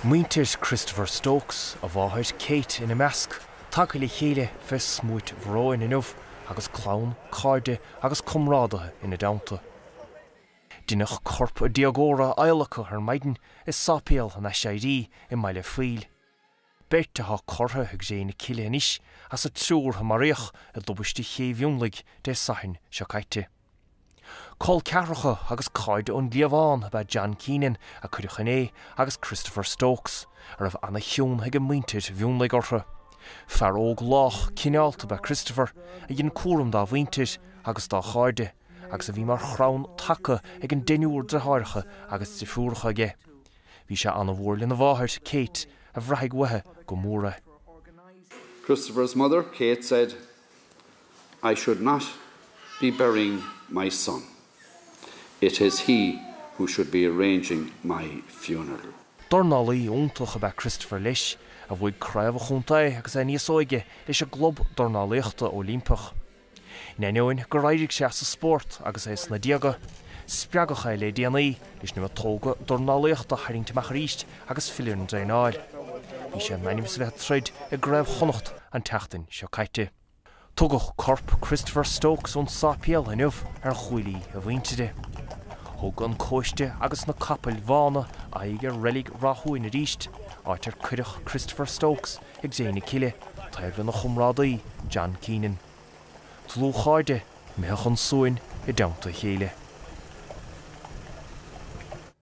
Muintir Christopher Stokes, a mháthair, Kate, ina measc, tagtha le chéile fé smúit bhróin inniu agus clann, cairde agus comrádaithe ina dteannta. Deineadh corp an déagóra a adhlacadh ar maidin i Sáipéal an Aiséirí i mBaile an Phoill. beirt atá curtha i gcré na cille anois as an triúr a maraíodh i dtubaiste Ché Mhionlaigh Dé Sathairn seo caite. Col ceathracha agus cairde ón gcliabhán ab ea John Keenan, a cuireadh inné, agus Christopher Stokes, a raibh an-chion ag muintir Mhionlaigh orthu. Fear óg lách cineálta ab ea Christopher, a dhein cúram dá mhuintir agus dá chairde, agus a bhí mar chrann taca ag an deichniúr deartháireacha agus deirfiúracha aige. Bhí sé an-mhór lena mháthair, Kate, a bhraithfidh uaithe go mór é. Christopher's mother, Kate, said, I should not be burying my son. It is he who should be arranging my funeral. Dornálaí iontach ab ea Christopher leis, a bhuaigh Craobh an Chontae agus é níos óige leis an gclub dornálaíochta Oilimpeach. In ainneoin gur éirigh sé as an spórt agus é sna déaga, spreagadh é le déanaí leis na miotóga dornálaíochta a tharraingt amach arís agus filleadh ar an dtraenáil. Bhí sé in ainm is a bheith ag troid i gCraobh Chonnacht an tseachtain seo caite. Tugadh corp Christopher Stokes ón sáipéal inniu ar ghuaillí a mhuintire. Thug an cóiste agus na capaill bhána aghaidh ar reilig Rathúin arís, áit ar cuireadh Christopher Stokes, i gcré na cille, taobh lena chomrádaí John Keenan. Dlúthchairde, imithe chun suain i dteannta a chéile.